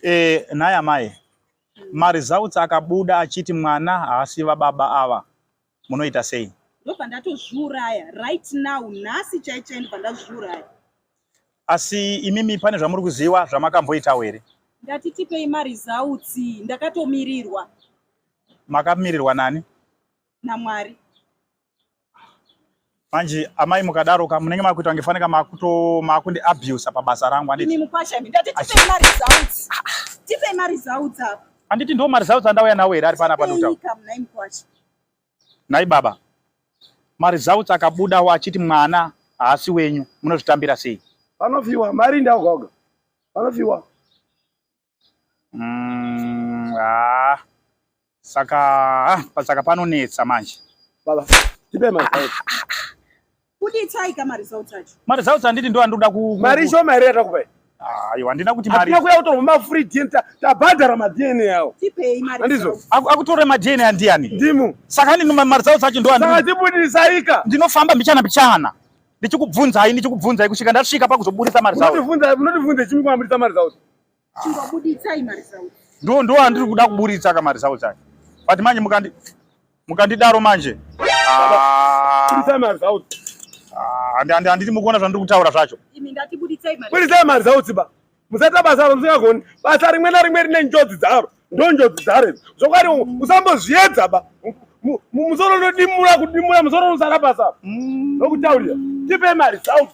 Eh, nhai amai, maresults akabuda achiti mwana haasi vababa ava, munoita sei? Ndobva ndatozviuraya right now, nhasi chaichai ndobva ndazviuraya. Asi imimi pane zvamuri kuziva zvamakamboitawo here? Ndati tipei maresults, ndakatomirirwa. Makamirirwa nani? NaMwari. Manje amai mukadaro ka munenge makuita kunge faneka makuto makundi abuse pabasa rangu anditi. Mimi mukwasha mimi ndati tipe ma results. Tipe ma results apa. Anditi ndo ma results andauya nawo here ari pana pa doctor. Mnai mukwasha. Nai baba. Ma results akabuda wa achiti mwana haasi wenyu munozvitambira sei? Vanofiwa mari ndaoga oga. Vanofiwa. mm, ah, saka ah, pasaka panonetsa manje baba tipe manje ah, ah, ah. kuti itsai ka maresults acho maresults anditi ndo andoda ku mari shoma here yatakupai ayo handina kuti mari akuya kutorwa mafree dn tabhadhara madna yawo tipei mari andizvo akutore madna andiyani ndimu saka ndino mari dzawo dzacho ndo andisaka tibudisaika ndinofamba mbichana mbichana ndichikubvunzai ndichikubvunzai kusvika ndasvika pakuzoburitsa mari dzawo unotivhunza unotivhunza chimwe kwamburitsa mari dzawo Chingobuditsai maresults. Ndo ndo andiri kuda kuburitsa ka maresults acho. But manje mukandi mukandidaro manje. Ah. Buritsa maresults. Ah, andi andi anditi mukuona zvandiri kutaura zvacho. Imi ndati buditsai maresults. Buritsa maresults ba. Musata basa musingagoni. Basa rimwe na rimwe rine njodzi dzaro. Ndo njodzi dzaro. Zvokwadi usambozviedza ba. Musoro unodimura kudimura musoro usara basa. Ndokutaurira. Mm. Tipe maresults.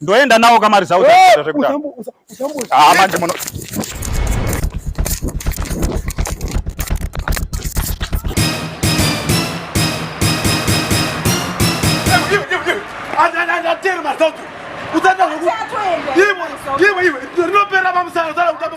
ndoenda nawo kamari zao ah, manje muno rinopera pamusana zara kutamba